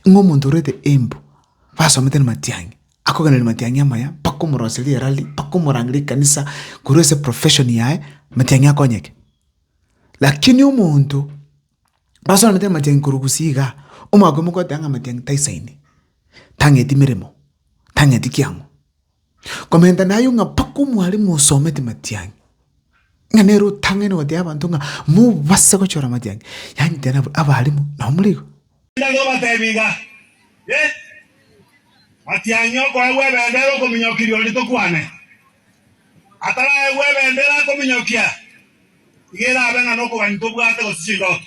Ng'a omonto orwete embu, basomete namatiang'i, akogenda namatiang'i amaya mpaka omorose riera riria, mpaka omorang'e rikanisa, korwa ase profession yaye, matiang'i akonyeke. Lakini omonto basomete namatiang'i korwa gusii igaa, omwaka omogoteeba ng'a amatiang'i taisaini, tang'eti meremo, tang'eti kiang'o. Komenta naye ng'a mpaka omwalimu osomete matiang'i, ng'a nere otang'aine gotebia abanto ng'a mobase gochora matiang'i, yaani tena abalimu nabo more igo. Tari obatebia iga, Ee, matiang'i okoegwa ebendera okominyokia riori tokwane. Ataraegwa ebendera akominyokia, iga erabe ng'a nokogania tobwate gose chindoto.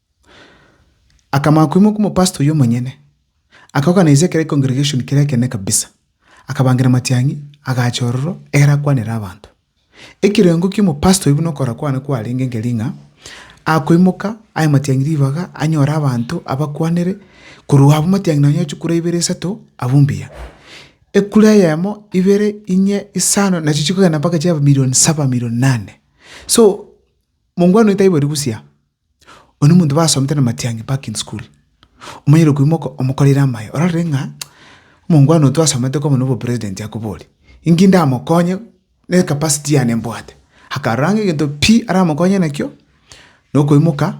Akamanya koimoka omopastori omonyene, akaorganiser ekero econgregation kere ekenene kabisa, akabangira amatiang'i, agacha ororo ere akwanere abanto. Ekerengo ki'omopastori buna okorora kwane kwarenge nkeri ng'a akoimoka aye amatiang'i ribaga, anyore abanto abakwanere, korwa abwo amatiang'i nonye ochia kura ibere isato, abwo mbuya. Ekura eyemo, ibere, inye, isano, nachi chikogenda mpaka chiaba million saba, million nane. So, mongwana oyo taiboiri bosio aa. Oyo nomonto basomete na Matiang'i back in school. Omonyene okoimo moko omokoreire amaye ororire ng'a omongwana oyo twasomete koba nobo president akobori. Inki ndamokonye ne capacity yane mbwate. Akarora ng'a egento pi aramokonye nakio nokoimoka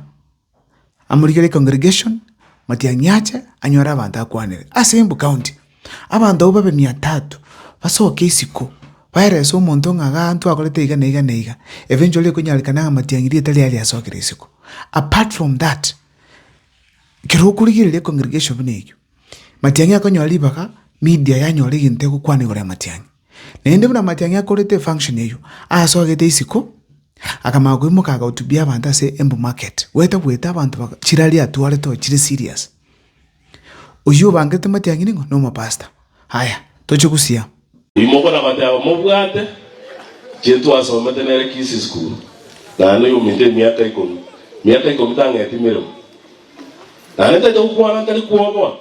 amorikere congregation Matiang'i ache anyore abanto akwanere ase embu county. Abanto abwo babe mia tatu basoke isiko, baelese omonto ng'a g'aanto akorete iga na iga na iga, eventually ekonyarekana ng'a matiang'i rieta riaye riasokire isiko. Apart from that, ekero okorigereria econgregation buna eyio, matiang'i akonyora ribaga, media yanyora egento egokwana igoro ya matiang'i. Naende buna matiang'i akorete efunction eyio, asogete isiko, akamanya koimoka agahotubia abanto ase embu market, goeta goeta abanto baka chirari atwarete oo chire serious. Oyio obangete amatiang'ini ng'a nomopasta. Aya, toche gosia. Imoka na goteba, Mobwate, Jesu twasomete nere Kisii School, naende oyominto emiaka ikomi. Miaka ikomi tang'eti emeremo. Naende tacha gokwana tari kwoboa.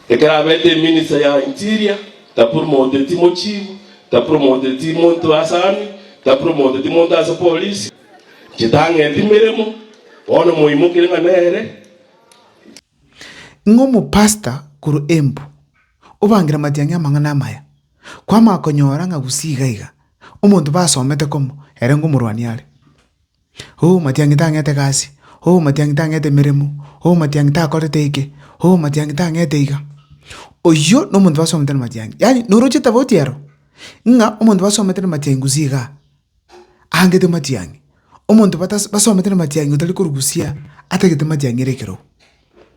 Ekero abete eminista ya interior, tapromoteti mochifu, tapromoteti monto ase army, tapromoteti monto ase polisi. Inche tang'eti emeremo, bono moimokire ng'a nere. Ng'a omopastor korwa Embu obangire amatiang'i amang'ana amaya, kwamanya konyora ng'a gusii iga iga, omonto basomete komo ere ng'omorwani are. Oh matiang'i tang'ete egasi, oh matiang'i tang'ete emeremo, oh matiang'i takorete eke, oh matiang'i tang'ete iga. Oyio na omonto basomete na matiang'i, yaani na oroche tofauti ero, ng'a omonto basomete na matiang'i gusii igaa. aangete matiang'i. Omonto batas- basomete namatiang'i otari korusia atagete matiang'i ere ekerogo,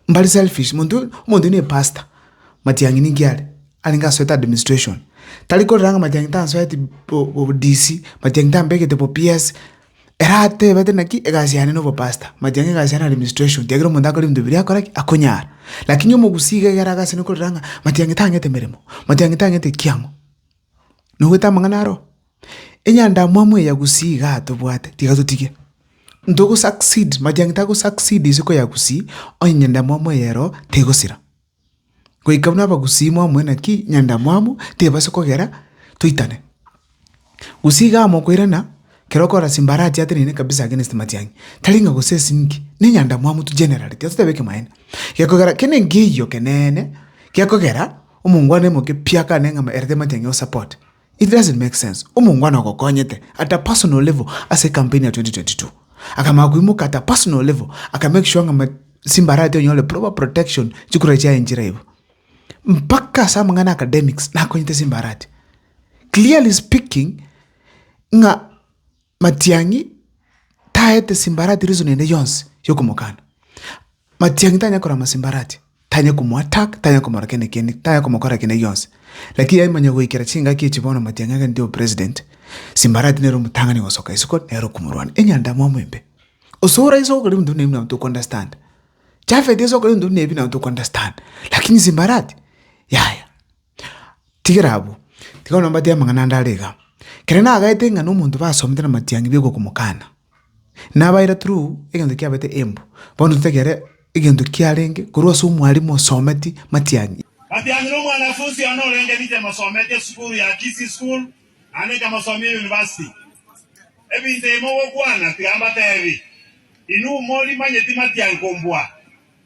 mbare selfish. Monto oyo, omonto oyo ne pastor, matiang'i ninki are? Arenge asoete administration, tari korora ng'a matiang'i tansoeti bo- bo- bo-DC, matiang'i tambegete bo-PS, ere atebete naki egasi yane na obopastor, matiang'i egasi yane na administration, kiagera omonto akore ebinto biria akora ki? Akonyara. Lakini omogusii iga egere agasene korora ng'a matiang'i tang'ete emeremo, matiang'i tang'ete ekiang'o. Nogoeta amang'ana aro, enyandamwamu eye ya Gusii iga atobwate, tiga totige. Ntogo succeed, majiang'i tago succeed isiko ya Gusii, onye nyandamwamu eye ero tegosira. Goika buna Abagusii mwaumwe naki nyandamwamu tebasa kogera toitane. Gusii iga amokoirana, kero okora simbarati ateneine kabisa against matiang'i, tari ng'a gose ase inki, ne nyandamwamu tu generally, tiga toteba ekemanyaino. Gekogera kende nkeiyo keneene, gekogera. Omongwana omoke pi akane ng'a ere tamanyeti ang'e o support. It doesn't make sense. Omongwana ogokonyete at a personal level ase ecampaign ya 2022. Akamanya koimoka at a personal level, aka make sure ng'a chimbarati onyore proper protection, chikura chiaye nchire aibo. Mpaka ase amang'ana academics, nakonyete chimbarati. Clearly speaking, ng'a. Matiang'i taete simbarati reason ende yonsi yokomokana. Matiang'i tanya korora masimbarati, tanya komo attack, tanya komora kende kende, tanya komokora kende gionsi. Lakini yaye manya goikera chingaki echi bono Matiang'i agenteo president, simbarati nere omotang'ani gosoka isiko nere okomorwania. Enyandamwamu embe. Osore iso okore ebinto buna ebi nabo toko understand. Japhet iso okore ebinto buna ebi nabo toko understand. Lakini simbarati, yaya. Tigera abwo, tiga bono mbateebie amang'ana ande are iga, Ekero nagaete ng'a nomonto basomete namatiang'i bigogomokana, nabaira through egento kiabaete embu, bono totegere egento kiarenge korwa ase omwarimu osometi matiang'i. Matiang'i nomwanafunsi one orenge Rita emosometi esukuru ya Kisii School naende ekamosomia eyunivasiti. Ebinto ebi mogokwana, tiga mbateebie, Inwe mori manyeti matiang'i kombua.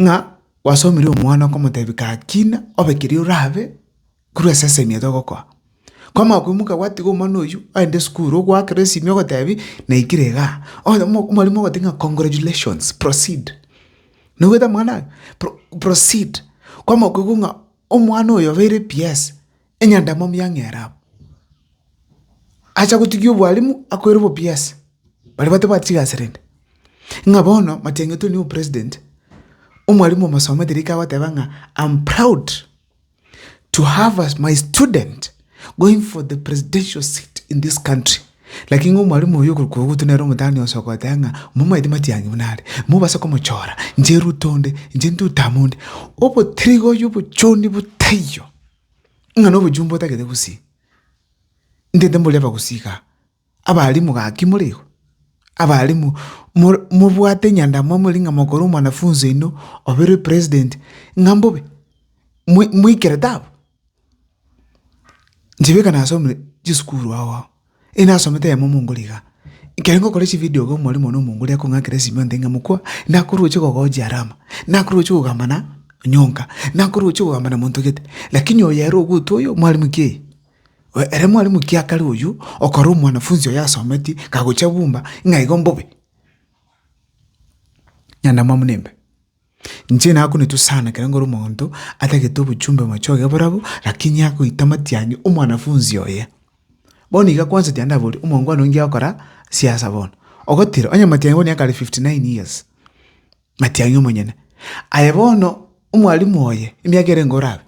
ng'a gwasomirie omwana okomotebia gakina obe keria orabe korwa ase esegi eye togokoa. Kwamanya koimoka gwatiga omwana oywo aende esukuru ogoakera esimi ogotebi naikire iga. Onye mo omorimo ogotebi ng'a congratulations, proceed. Noboete amang'ana aye? Pro proceed. Kwamanya koigwa ng'a omwana oyo obeire PS. Enyandamwamu ya ng'era abwo, acha gotigia obwalimu akoira obopiasi, baria batabwati chigasi rende. Ng'a bono matian'getwe nigo president, omwalimu omosomete rika agoteba ng'a am proud to have as my student going for the presidential seat in this country. Lakini ng'a omwalimu oyo okorokwa obogotu nere omotang'ani ogosoka ogoteba ng'a momaete matiang'i buna are, mobase komochora, inche Ruto onde, inche Nduta amo onde. Obotrigoyo obochoni botaiyo. ng'a nobochumba otagete gosii, ntete mbori abagusii igaa, abalimu gaki more igo, abalimu more mobwate enyandamo more ng'a mokore omwanafunzi oino oberwe president ng'a mbobe, moi moikere taabu. Inche bweka nasomire chisukuru ao ao. Inasomete eyemo omongori iga, ekero ngokora echividio iga omwalimu one omongori akong'akera esimi ontebi ng'a mokwa, nakorwochia kogochia alama, nakorwochia kogamba na onyonka, nakorwochia kogamba na monto gete. Lakini oyo ere ogotwa oyo mwalimu ki? Oyo ere mwalimu kiakare oywo, okora omwanafunzi oyo asometi, kagocha bumba, ng'a igo mbobe. Nyandamwamu nimbe. Inche nakunetwe sana ekero nkore omonto atagete obochumbe mochie oye oborabo lakini agoita matiang'i omwanafunzi oye. Bono iga kwanza tiga ndabori omongwana oyio ngegokora siasa bono. Ogotira onye matiang'i bono nigo akare fifty nine years, matiang'i omonyene. Aye bono omwalimu oye emiaka ere nigo orabe,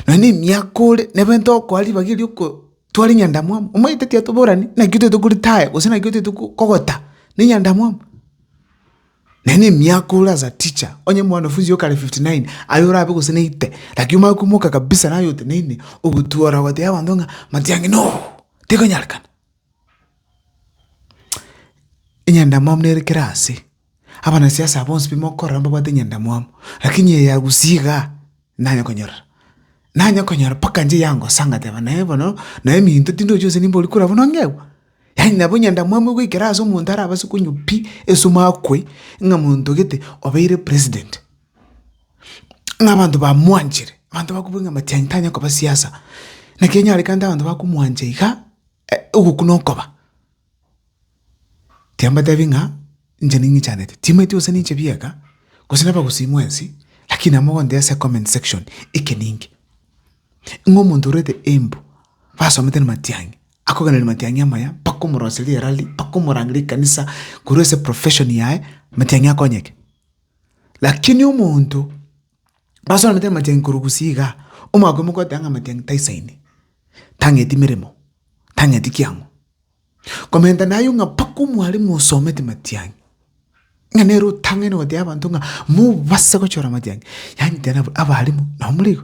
Nonya nemiaka ore nabo ntokoa ribaga erio okotwara enyandamwamu, omanyete tiatoborani naki otaete koritaya gose naki otaete kogota, na enyandamwamu. Nonya na emiaka ore as a teacher, onye mwanafunzi oyo kare fifty nine, aye orabe gose na eite, naki omanye koimoka kabisa naye oteneine, ogotwora ogotebia abanto ng'a manti ange no, tekonyarekana. Enyandamwamu nere kera ase. Abanasiasa bonsi bimokorora mbabwate enyandamwamu, lakini eye agusie igaa, nanye konyorora. Nanye konyora mpaka nchie yangosa ngateba naye bono, naye minto tindi ochi gose nimbori kora buna ongegwe. Yaani nabo enyandamwamu egoikera ase omonto arabase konywa pi esumu akwe, ng'a monto gete obeire president. Ng'a abanto bamwanchire, abanto bakobua ng'a matianyi tanya koba siasa. Naki onyarekante abanto bakomwancha iga, ogokwa nokoba. Tiambatebi ng'a inche ning'ichanete, timanyeti gose ninche bieka, gose nabagusii mwensi, lakini amo gontee ase comment section eke ninke. Ng'a omonto orwete embu, basomete na matiang'i, akogenda na matiang'i amaya mpaka omoroserie rally, mpaka omorangerie ekanisa, korwa ase profession yaye, matiang'i akonyeke. Lakini omonto. Basoranete amatiang'i korwa gusii igaa, omwaka oyomo kwateba ng'a amatiang'i taisaini, tang'eti meremo, tang'eti kiang'o. Komenta nayio ng'a mpaka omwalimu osomete matiang'i, ng'a nere otang'ene gotebia abanto ng'a mobase gochora amatiang'i, yaani tena abwo abalimu nabo morigo.